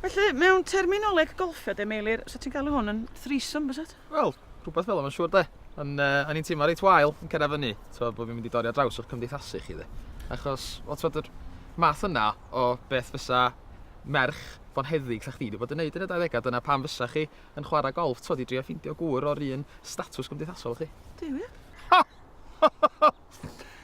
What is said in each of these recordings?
Felly, mewn terminoleg golffio de, Meilir, so ti'n galw hwn yn threesome, bys it? Wel, rhywbeth fel yma, siwr de. Yn, uh, o'n i'n teimlo reit wael yn cyrraedd fyny, so bod fi'n mynd i dorri ar draws o'r cymdeithasu chi de. Achos, o, ti'n yr math yna o beth fysa merch fo'n heddig sa chdi wedi bod yn neud yn y 20au, dyna pam fysa chi yn chwarae golf, ti'n i drio ffeindio gŵr o'r un statws gymdeithasol chi. Dwi wir? Ha!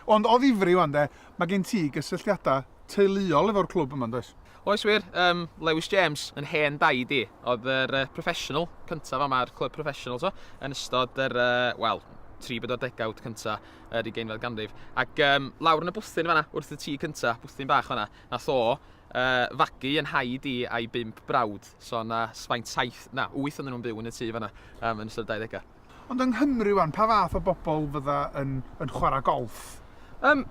Ond o ddifri 'wan 'de, mae gen ti gysylltiadau teuluol efo'r clwb yma, yn does? Oes wir, yym, Lewis James, yn hen daid i, oedd yr yy professional cyntaf yma, yr clwb professional t'mo', yn ystod yr yy, wel, tri bedwar degawd cynta yr ugeinfed ganrif. Ac yym, lawr yn y bwthyn fanna, wrth y tŷ cynta, bwthyn bach fanna, nath o yy, fagu yn nhaid i a'i bump brawd. So, 'na s- faint, saith, na, wyth oedden nhw'n byw yn y tŷ fanna, yym, yn ystod y dauddegau. Ond yng Nghymru 'wan, pa fath o bobl fydda yn yn chwarae golff? Yym,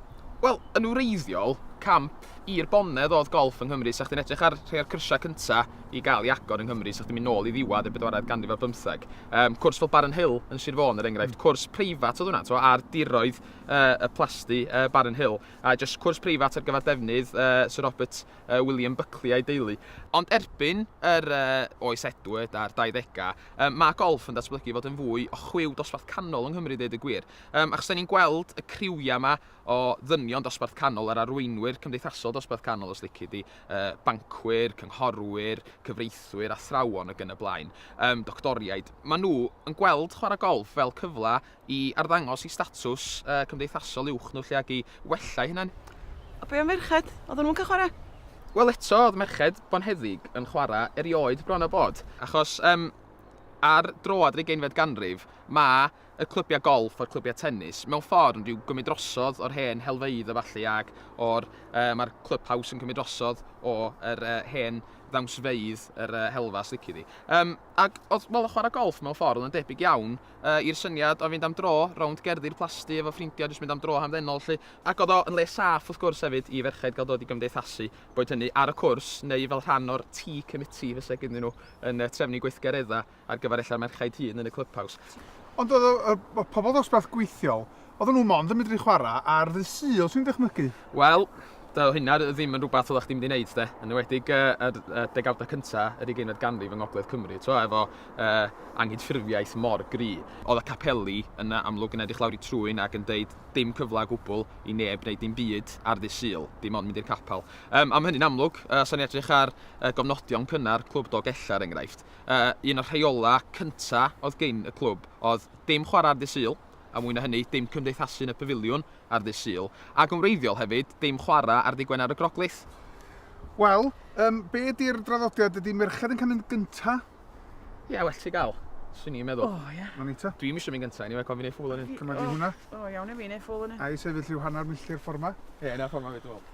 wel, yn wreiddiol, camp i'r bonedd oedd golff yng Nghymru. 'Sa chdi'n edrych ar rhai o'r cyrsiau cynta' i gael ei agor yng Nghymru, 'sa chdi'n mynd nôl i ddiwedd y bedwaredd ganrif ar bymtheg. Yym, cwrs fel Barren Hill yn Sir Fôn, er enghraifft, cwrs preifat oedd hwnna, t'mo', ar diroedd yy y plasty yy Barren Hill, a jyst cwrs preifat ar gyfer defnydd yy Sir Robert William Buckley a'i deulu. Ond erbyn yr Oes Edward a'r 20au, mae golff yn datblygu i fod yn fwy o chwiw dosbarth canol yng Nghymru i ddeud y gwir. Achos dan ni'n gweld y criwiau yma o ddynion dosbarth canol, yr arweinwyr cymdeithasol dosbarth canol os lici di, bancwyr, cynghorwyr, cyfreithwyr, athrawon ac yn y blaen, doctoriaid, maen nhw yn gweld chwarae golff fel cyfle i arddangos i statws uh, cymdeithasol uwch nhw lle ag i wella i hynna'n. A be am ferched? Oedden nhw'n cael chwarae? Wel eto, oedd merched bonheddig yn chwarae erioed bron o bod. Achos um, ar droad yr ugeinfed ganrif, mae y clybiau golff a'r clybiau tennis mewn ffordd yn rhyw gymryd drosodd o'r hen helfeidd a falle ac o'r, uh, mae'r clwb haws yn cymryd drosodd o'r uh, hen ddawnsfeidd yr uh, helfa, slici di. Um, ac oedd, wel, chwarae golff mewn ffordd yn debyg iawn yy i'r syniad o fynd am dro rownd gerddi'r plasty efo ffrindia jyst mynd am dro hamddenol 'lly. Ac o'dd o yn le saff wrth gwrs hefyd i ferched ga'l dod i gymdeithasu, boed hynny ar y cwrs neu fel rhan o'r tea committee fyse gynnyn nhw yn yy trefnu gweithgaredda ar gyfer ella'r merchaid hŷn yn y clybhaws. Ond o'dd y y y pobol ddosbarth gweithiol Oedden nhw mond yn medru chwarae ar ddydd Sul, swn i'n dychmygu? Wel, doedd hynna ddim yn rhywbeth oeddach chdi'n mynd i wneud de, yn enwedig yy yr yy degawdau cynta' yr ugeinfed ganrif yng ngogledd Cymru, t'mo' efo yy anghydffurfiaeth mor gry'. Oedd y capeli yn yy amlwg yn edrych lawr eu trwyn ac yn deud 'dim cyfle o gwbwl i neb wneud dim byd ar ddydd Sul, dim ond mynd i'r capel'. Yym a ma' hynny'n amlwg yy os o'n ni'n edrych ar yy gofnodion cynnar Clwb Dolgellau er enghraifft, yy un o'r rheolau cynta' oedd gin y clwb oedd 'dim chwarae ar ddydd Sul', A mwy na hynny, dim cymdeithasu yn y Pafiliwn ar ddydd Sul, ac yn wreiddiol hefyd, dim chwarae ar ddydd Gwener y Groglith. Wel, yym, be ydi'r draddodiad? Ydi merched yn canu'n gynta? Ie, well ti gael. Swn i'n meddwl. O, ie. Na ni ta. Dwi'm isio mynd gynta, eniwe, cofi'n ei ffwl yn un. Cyma di hwnna. O, o iawn i fi'n ei ffwl yn un. Ai sefyll lliw hanner milltir ffordd ma? Ie, yna ffordd ma fi, dwi'n meddwl.